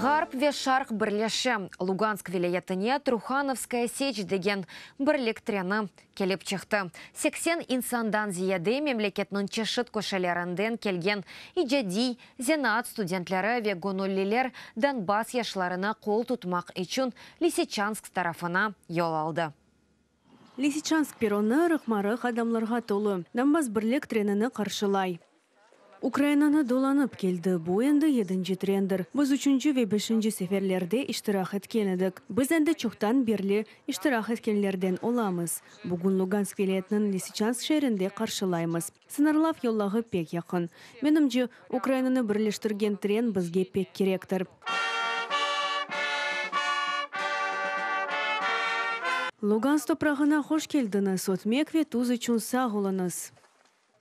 Ğarp ve Şarq birleşi, Lugansk vilâyetine Truhanovskaya Seç degen birlik treni kelip çıqtı. Seksen insandan ziyade memleketniñ çeşit köşelerinden kelgen icadiy, zenaat studentleri ve göñülliler Donbass yaşlarına qol tutmaq içün Liseçansk tarafına yol aldı. Lisitşansk perronı ırıq-marıq adamlarğa tolu. Donbass birlik trenini qarşılay. Ukrainanı dolanıp keldi. Bu endi yedinci trendir. Biz üçünci ve beşinci seferlerde iştirak etken edik. Biz endi çoqtan berli iştirak etkenlerden olamız. Bugün Lugansk vilâyetiniñ Lisitşansk şeerinde qarşılaymız. Sıñırlav yollağı pek yaqın. Menimce, Ukrainanı birleştirgen tren bizge pek kerektir. Lugansk toprağına hoş keldiñiz, ötmek ve tuz içün sağ oluñız!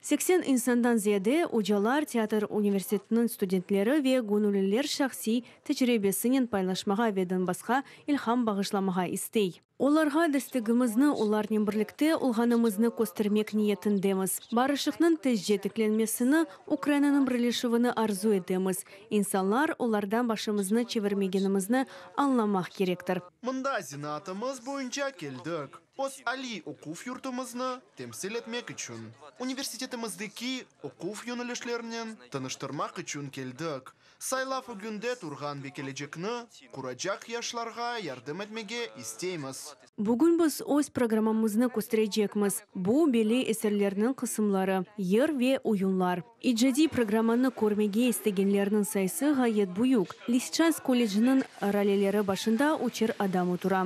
Seksen insandan ziyade, ocalar, teatr universitetiniñ studentleri ve göñülliler şahsiy tecribesinen paylaşmağa ve Donbassqa ilham bağışlamağa istey. Olarğa destegimizni olarnen birlikte olğanımıznı köstermek niyetindemiz. Barışıqnıñ tezce tiklenmesini, Ukrainanıñ birleşüvini arzu etemiz. İnsanlar, olardan başımıznı çevirmegenimizni añlamaq kerektir. Mında zenaatımız boyunca keldik, öz aliy oquv yurtumıznı temsil etmek içün. Universitetimizdeki oquv yönelişlerinen tanıştırmaq içün keldik. Saylav ögünde turğan ve kelecekni quracaq yaşlarğa yardım etmege isteymiz. Bugün biz öz programmamıznı kösterecekmiz. Bu, belli eserlerniñ qısımları, yır ve oyunlar. İcadiy programmanı körmege istegenlerniñ sayısı ğayet büyük. Lisitşansk kolleciniñ raleleri başında üçer adam otura.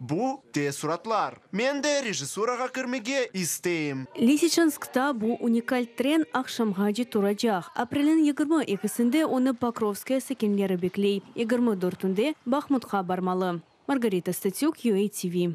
Bu te suratlar. Men de rejissurağa kirmege isteyim. Lisiçanskta bu unikal tren aqşamğace turacaq. Apreliñ yigirmi ekisinde onı Pokrovskoye sakinleri bekley, yigirmi dörtünde Bahmutqa barmalı. Margarita Statük, UA TV.